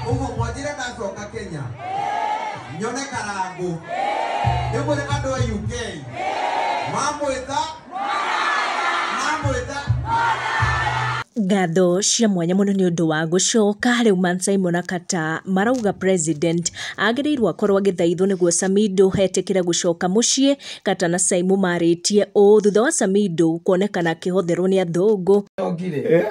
ũguo mwanjĩre ndacoka kenya nyone karangũ ndĩmwĩre andũ a uk mamwĩta mamwĩta ngatho cia mwanya mũno nĩ ũndũ wa gũcoka rĩu man simon akata marauga president agĩrĩirwo akorwo agĩthaithwo nĩguo samido etĩkĩre gũcoka mũciĩ Kata na Cai mũmarĩtie ũũ thutha wa Samido kuonekana akĩhotherwo nĩ athũngũ. Ongire.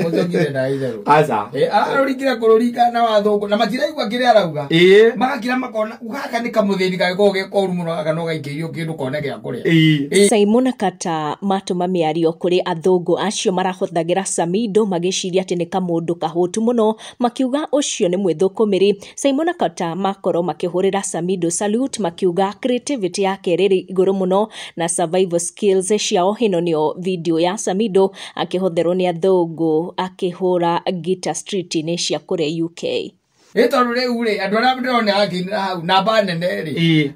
Ongire na itherũ. Aca. Eh, aroringire kũrũringa na wathũngũ na matiraigua kĩrĩa arauga. Ĩĩ. Magakira makona gaka nĩ kamũthĩni gagĩkorwo ge koru mũno gaka no gaingĩrio kĩndũ kone gĩa kũrĩa. Ĩĩ. Simon na Kata matũma mĩario kũrĩ athũngũ acio marahothagĩra Samido magĩciria atĩ nĩ kamũndũ kahũtu mũno makiuga ũcio nĩ mwĩthũkũmĩri Simon na Kota makorwo makĩhũrĩra Samido salute makiuga creativity yake rĩrĩ igũrũ mũno na survival skills ciao ĩno nĩyo video ya Samido akĩhotherwo nĩ athũngũ akĩhũra gita street-inĩ cia kũrĩa UK. Nĩ tondũ rĩu rĩ andũ arĩa ndĩrona akĩinĩra hau namba nene rĩ Ĩĩ.